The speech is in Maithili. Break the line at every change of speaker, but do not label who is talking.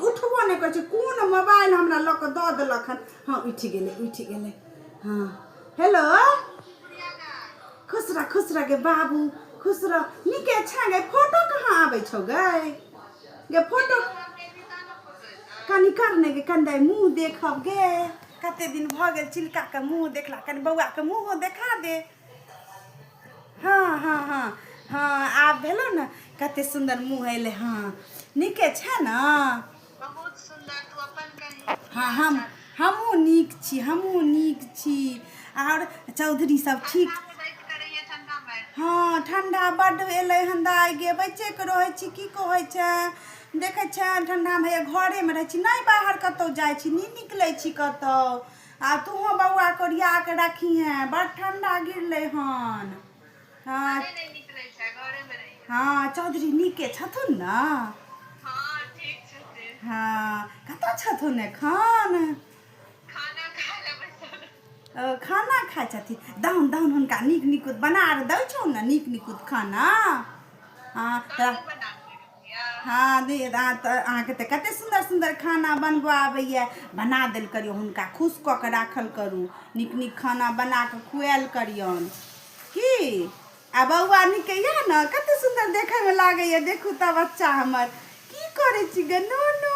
उठबो नहि करै छै कोन मोबाइल हमरा लऽ कऽ दऽ देलक हन हँ उठि गेलै उठि गेलै हँ हेलो खुश रह खुश रह गे बाबू खुश रह नीके छै गे फोटो कहाँ आबै छौ गे गे फोटो कनि कर ने गे कनि दाइ मुँह देखब गे कते दिन भऽ गेल चिलकाके मुँह देखला कनि बौआके मुँहो देखा दे हँ हँ हँ हँ आब भेलो ने कते सुन्दर मुँह अयलै हँ नीके छै ने बहुत सुन्दर तू अपन कही
हँ हम
हमहूँ नीक छी हमहूँ नीक छी आओर चौधरी सब ठीक हँ ठंडा बड्ड एलै हन दाइ गे बच्चेके रहै छी की कहै छै देखै छै ठंडामे घरेमे रहै छी नहि बाहर कतौ जाइ छी नहि निकलै छी कतौ आ तूहो बौआ कोरिया के रखी हैं बड़ ठंडा गिरले हन हाँ हाँ चौधरी नीके छथुन न हाँ
ठीक छथिन हाँ
कतऽ छथुन एखन खाना खाय लए बैसल खाना खाय छथिन दाउन दाउन हुनका नीक निकुत बना आर दै छौ ने नीक निकुत खाना हाँ तऽ हँ दी अहाँ तऽ अहाँके तऽ कतेक सुन्दर सुन्दर खाना बनबऽ आबैए बना देल करियौ हुनका खुश कऽ कऽ राखल करू नीक नीक खाना बना कऽ खुआएल करियौन की आ बौआ नीक यए ने कतेक सुन्दर देखैमे लागैए देखू तऽ बच्चा हमर की करै छी गे नो नो